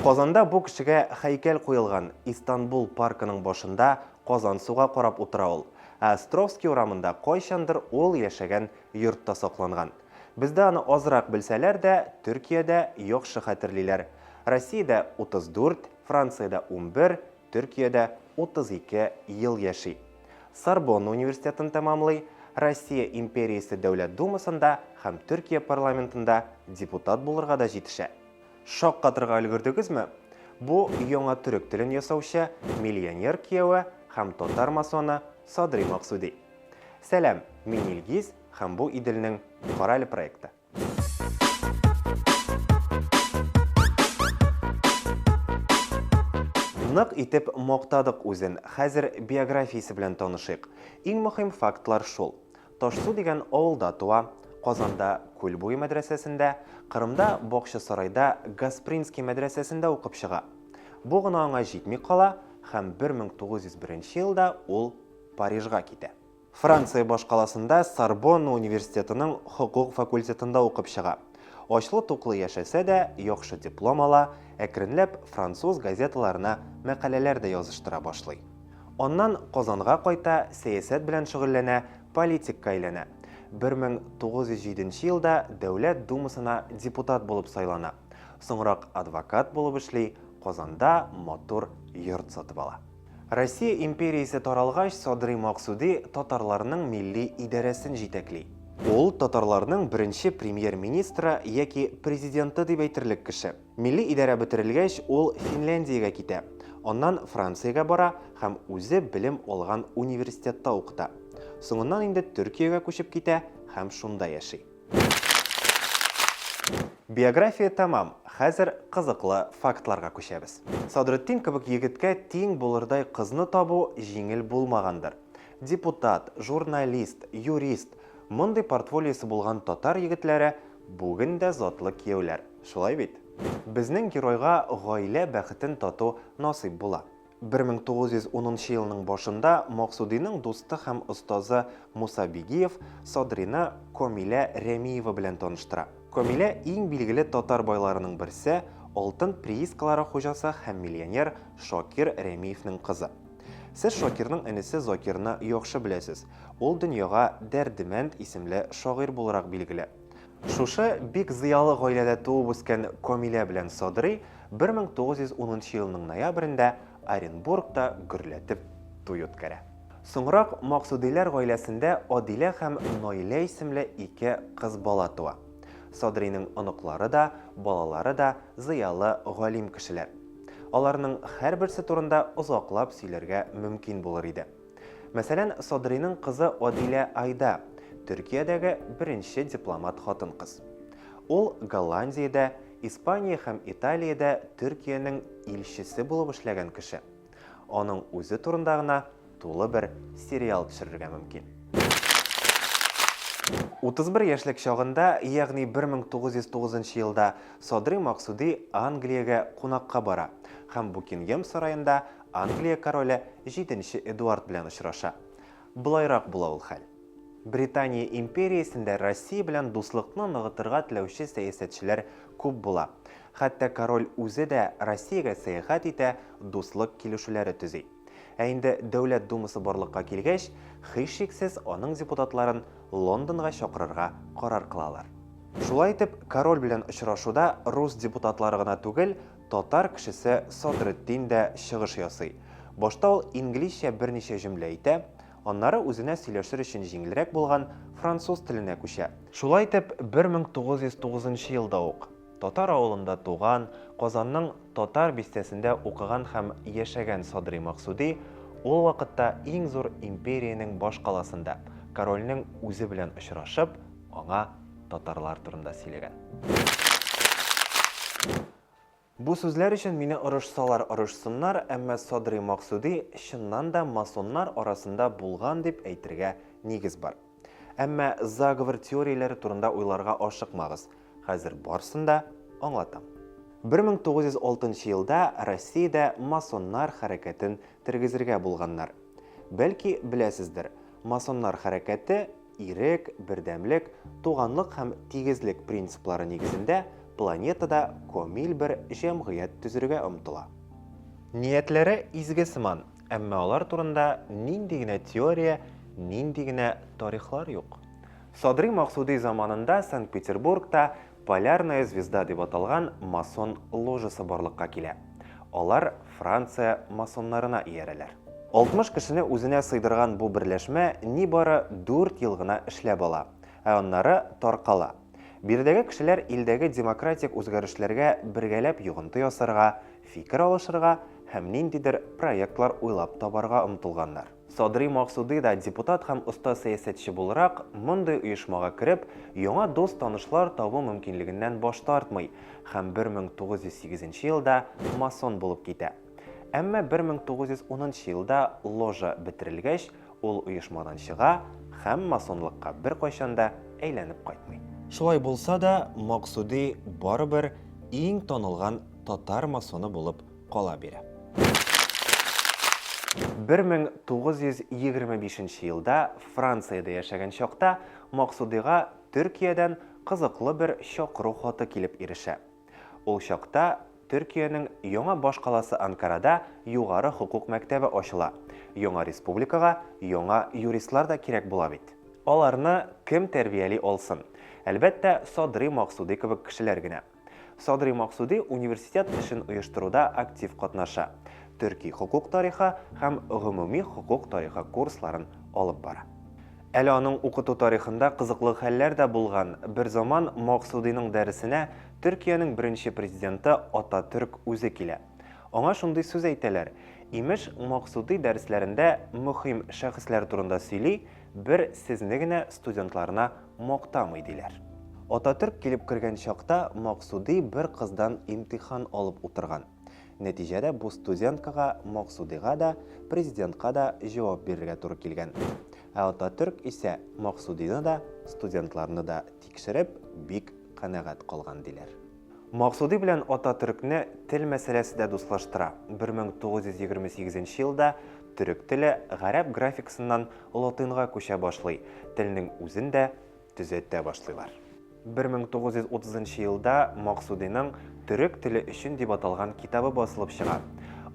Казанда бу кешегә һәйкәл куелган, Истанбул паркының башында казан суга карап утыра ул. Ә Островский урамында кайчандыр ул яшәгән йортта сакланган. Бездә аны азрак белсәләр дә, Төркиядә яхшы хәтерлиләр. Россиядә 34, Франциядә унбер, Төркиядә 32 ел яши. Сорбонна университетын тәмамлый, Россия империясе Дәүләт Думасында һәм Төркия парламентында депутат булырга да җитешә. Шаккатырга өлгердегезме? Бу яңа төрек телен ясаучы миллионер кияве һәм татар масоны Садри Максуди. Сәлам, мин Илгиз һәм бу Иделнең Кораль проекты. Нык итеп мактадык үзен, хәзер биографиясе белән танышыйк. Иң мөһим фактлар шул. Ташсу дигән авылда туа, Казанда Күл буе мәдрәсәсендә, Кырымда Бакчасарайда Гаспринский мәдрәсәсендә укып чыга. Бу гына аңа җитми кала һәм 1901 елда ул Парижга китә. Франция башкаласында Сорбонна университетының хокук факультетында укып чыга. Ачлы-туклы яшәсә дә, яхшы диплом ала, әкренләп француз газеталарына мәкаләләр дә языштыра башлый. Аннан Казанга кайта, сәясәт белән шөгыльләнә, политикка әйләнә. 1907 нче елда Дәүләт Думасына депутат булып сайлана. Соңрак адвокат булып эшли, Казанда матур йорт сатып ала. Россия империясе таралгач, Садрый Максуди татарларның милли идарәсен җитәкли. Ул, татарларның беренче премьер-министры яки президенты дип әйтерлек кеше. Милли идарә бетерелгәч, ул Финляндиягә китә, аннан Франциягә бара һәм үзе белем алган университетта укыта. Соңыннан инде Төркиягә күчеп китә һәм шунда яши. Биография тәмам, хәзер кызыклы фактларга күчәбез. Садретдин кебек егеткә тиң булырдай кызны табу җиңел булмагандыр. Депутат, журналист, юрист, мондый портфолиосы булган татар егетләре Бүген дә затлы кияүләр, шулай бит? Безнең геройга гаилә бәхетен тату насыйп була. 1910 нчы елның башында Максудиның дусты һәм остазы Муса Бигиев Садрины Комилә Рәмиева белән таныштыра. Комилә иң билгеле татар байларының берсе, алтын приискалары хуҗасы һәм миллионер Шакир Рәмиевнең кызы. Сез Шакирның энесе Закирны яхшы беләсез, Ул дөньяга Дәрдемәнд исемле шагыйрь буларак билгеле. Шушы бик зыялы гаиләдә туып-үскән Камилә белән Садри 1910 нчы елның ноябрендә Оренбургта гөрләтеп туй үткәрә. Соңрак Максудиләр гаиләсендә Адилә һәм Наилә исемле ике кыз бала туа. Садринең оныклары да, балалары да зыялы, галим кешеләр. Аларның һәрберсе турында озаклап сөйләргә мөмкин булыр иде. Мәсәлән, Садрыйның кызы Адилә Айда, Төркиядәге беренче дипломат хатын-кыз. Ул Голландиядә, Испания һәм Италиядә Төркиянең илчесе булып эшләгән кеше. Аның үзе турында гына тулы бер сериал төшерергә мөмкин. 31 яшьлек чагында, ягъни 1909 елда Садрый Максуди Англиягә кунакка бара һәм Букингем сараенда Англия короле җиденче Эдуард белән очраша. Болайрак була ул хәл. Британия империясендә Россия белән дуслыкны ныгытырга теләүче сәясәтчеләр күп була. Хәтта король үзе дә Россиягә сәяхәт итә, дуслык килешүләре төзи. Ә инде Дәүләт Думасы барлыкка килгәч, һичшиксез, аның депутатларын Лондонга чакырырга карар кылалар. Шулай итеп, король белән очрашуда рус депутатлары гына түгел, Татар кешесе Садретдин дә чыгыш ясый. Башта ул инглизчә берничә җөмлә әйтә, аннары үзенә сөйләшер өчен җиңелрәк булган француз теленә күчә. Шулай итеп, 1909 нчы елда ук татар авылында туган, Казанның Татар бистәсендә укыган һәм яшәгән Садри Максуди ул вакытта иң зур империянең башкаласында корольнең үзе белән очрашып, аңа. татарлар турында сөйләгән. Бу сүзләр өчен мине орышсалар орышсыннар, әмма Садрый Максуди чыннан да масоннар арасында булган дип әйтергә нигез бар. Әмма заговор теорияләре турында уйларга ашыкмагыз, хәзер барсын да аңлатам. 1906 елда Россиядә масоннар хәрәкәтен тергезергә булганнар. Бәлки беләсездер, масоннар хәрәкәте Ирек, бердәмлек, туганлык һәм тигезлек принциплары нигезендә планетада комиль бер җәмгыять төзергә омтыла. Ниятләре изге сыман, әмма алар турында нинди генә теория, нинди генә тарихлар юк. Садри-Максуди заманында Санкт-Петербургта Полярная звезда дип аталган масон ложасы барлыкка килә. Алар Франция масоннарына иярәләр. 60 кешене үзенә сыйдырган бу берләшмә нибары дүрт ел гына эшләп ала, ә аннары таркала. Биредәге кешеләр илдәге демократик үзгәрешләргә бергәләп йогынты ясарга, фикер алышырга һәм ниндидер проектлар уйлап табарга омтылганнар. Садри Максуди да депутат һәм оста сәясәтче буларак, мондый оешмага кереп, яңа дус-танышлар табу мөмкинлегеннән баш тартмый һәм 1908 елда масон булып китә. Әмма 1910 елда ложа бетерелгәч, ул оешмадан чыга һәм масонлыкка беркайчан да әйләнеп кайтмый. Шулай булса да, Максуди барыбер иң танылган татар масоны булып кала бирә. 1925 нче елда Франциядә яшәгән чакта Максудыйга Төркиядән кызыклы бер чакыру хаты килеп ирешә. Ул чакта Төркиянең яңа башкаласы Анкарада югары хокук мәктәбе ачыла, яңа республикага яңа юристлар да кирәк була бит. Аларны кем тәрбияли алсын? Әлбәттә, Садрый Максудый кебек кешеләр генә. Садри Максуди университет эшен оештыруда актив катнаша, төрки хокук тарихы һәм гомуми хокук тарихы курсларын алып бара. Әле аның укыту тарихында кызыклы хәлләр дә булган. Берзаман Максудиның дәресенә Төркиянең беренче президенты Ататөрк үзе килә. Аңа шундый сүз әйтәләр, имеш, Максуди дәресләрендә мөһим шәхесләр турында сөйли, бер сезне генә студентларына мактамый диләр. Ататөрк килеп кергән чакта Максуди бер кыздан имтихан алып утырган. Нәтиҗәдә бу студенткага, Максудига да, президентка да җавап бирергә туры килгән. Ә Ататөрк исә Максудины да, студентларны да тикшереп, бик канәгать калган диләр. Максуди белән Ататөркне тел мәсьәләсе дә дуслаштыра. 1928 нче елда төрек теле гарәп графикасыннан латынга күчә башлый, телнең үзен дә төзәтә башлыйлар. 1930 нчы елда Максудиның Төрек теле өчен дип аталган китабы басылып чыга.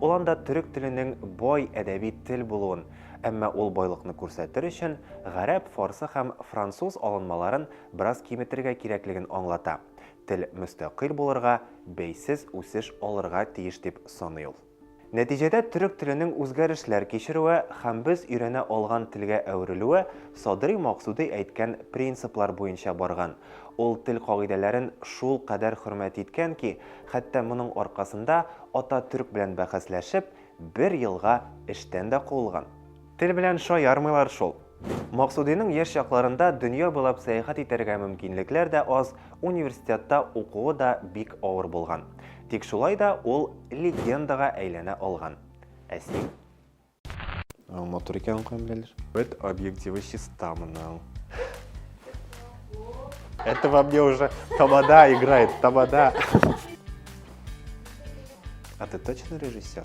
Ул анда төрек теленең бай әдәби тел булуын, әмма ул байлыкны күрсәтер өчен гарәп, фарсы һәм француз алынмаларын бераз киметергә кирәклеген аңлата. Тел мөстәкыйль булырга, бәйсез үсеш алырга тиеш дип саный ул. Нәтиҗәдә төрек теленең үзгәрешләр кичерүе һәм без өйрәнә алган телгә әверелүе Садри Максуди әйткән принциплар буенча барган. Ул тел кагыйдәләрен шул кадәр хөрмәт иткән ки, хәтта моның аркасында Ататөрк белән бәхәсләшеп, бер елга эштән дә куылган. Тел белән шаярмыйлар шул. Максудиның яшь чакларында дөнья буйлап сәяхәт итәргә мөмкинлекләр дә аз, университетта укуы да бик авыр булган. Тик шулай да ул легендага әйләнә алган. Ә син? Матур икән камиляләр. Бет объективы чиста моның. Это во мне уже тамада играет, тамада. А ты точно режиссер?